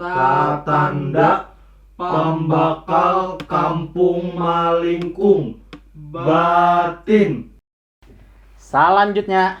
Tatanda pambakal kampung malingkung batin. Salanjutnya.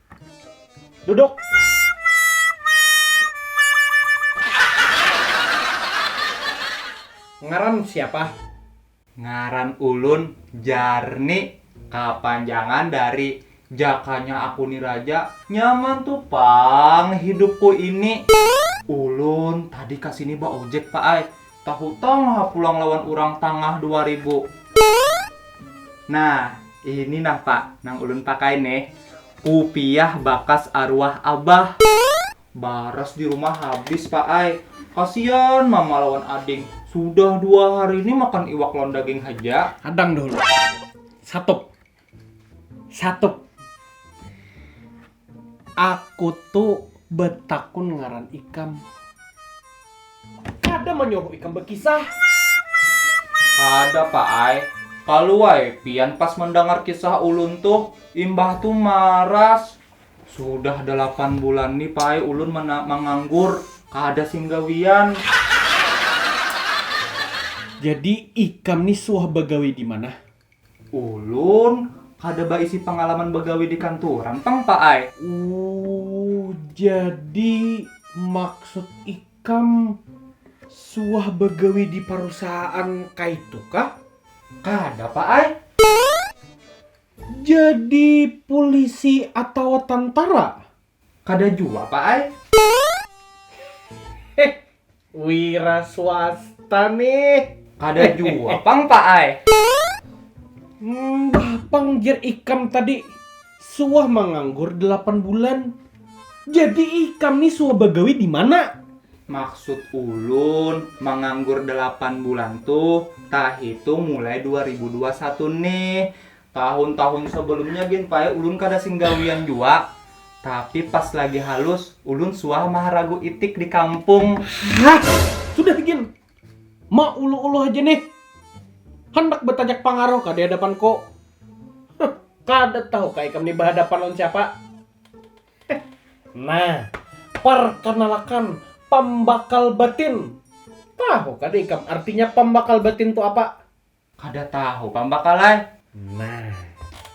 Duduk. Ngaran siapa? Ngaran ulun Jarni. Kapanjangan dari Jakanya Aku Ni Raja. Nyaman tu pang hidupku ini. Ulun tadi ka sini baojek, Pak ai. Tahutang ha pulang lawan urang tangah dua ribu. Nah, ini nah pak nang ulun pakai nih, kupiah bakas aruah abah. Baras di rumah habis pak ai, kasian mama lawan ading, sudah dua hari ini makan iwak lawan daging haja. Hadang dahulu, satup. Satu. Aku tu betakun ngaran ikam. Kada manyuruh ikam bekisah. Kada pak ai, kalu ai pian pas mendangar kisah ulun tuh, imbah tu maras. Sudah delapan bulan ni pak ai ulun manganggur, kada sing gawian. Jadi ikam ni suah bagawi dimana? Ulun kada baisi pangalaman bagawi di kanturan pang pak ai. Uuh jadi maksud ikam suah bagawi di parusahaan kaitu kah? Kada pak ai. Jadi pulisi atawa tantara? Kada jua pa ai. Heh wira swasta nih. Kada jua pang pa ai. Mbah pang jer ikam tadi suah manganggur delapan bulan. Jadi ikam nih suah bagawi dimana? Maksud ulun manganggur delapan bulan tuh tahitung mulai dua ribu dua satu nih. Tahun-tahun sebelumnya gin pae ulun kada sing gawian jua, tapi pas lagi halus ulun suah maharagu itik di kampung. Hah, sudah gin, mauluh-uluh haja nih, handak batajak pangaruh kah di hadapanku? Huh, kada tahu kah ikam nih bahadapan lawan siapa? Heh, nah, parkanalakan, pambakal batin. Tahu kada ikam artinya pambakal batin tu apa? Kada tahu pambakal ai. Nah,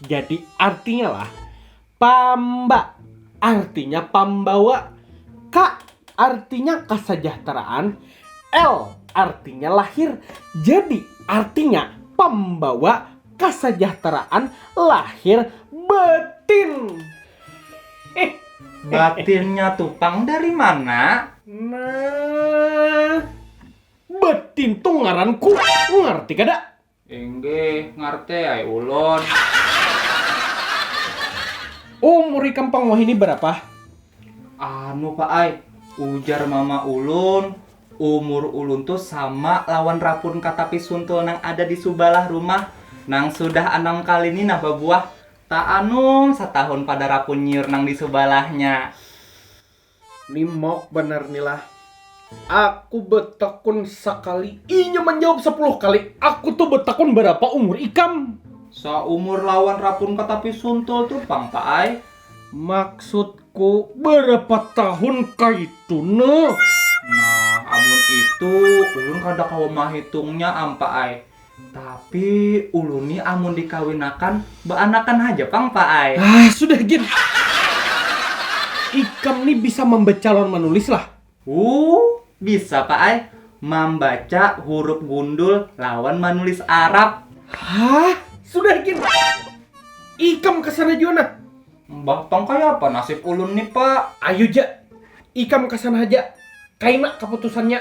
jadi artinya lah, pamba artinya pambawa, ka artinya kasajahteraan, l artinya lahir. Jadi artinya pambawa kasajahteraan lahir batin. Hih. Batinnya tu pang dari mana? Nah. Batin tu ngaran ku, ngarti kada? Inggih, ngarti ai ulun. Umur ikam pang wahini barapa? Anu pak ai, ujar mama ulun, umur ulun tu sama lawan rapun katapi suntul nang ada di subalah rumah, nang sudah anam kali ni nah babuah, taanum satahun pada rapun nyiur nang di subalahnya. Ni mauk banar ni lah. Aku betakun sakali, inya manjawab sapuluh kali. Aku tu betakun barapa umur ikam? Saumur lawan rapun ka tapi suntul tu pang pak ai. Maksudku barapa tahun kaitu ne? Nah amun itu ulun kada kawa mahitungnya am pak ai. Tapi ulun nih amun dikawinakan baanakan haja pang pak ai. Ah sudah gin. Ikam nih bisa mambaca lawan manulis lah? Wuu bisa pak ai, mambaca hurup gundul lawan manulis arab. Hah sudah gin. Ikam kasana jua nah. Mbah pang kayapa nasib ulun nih pak. Ayu ja, ikam kasana haja, kaina kaputusannya.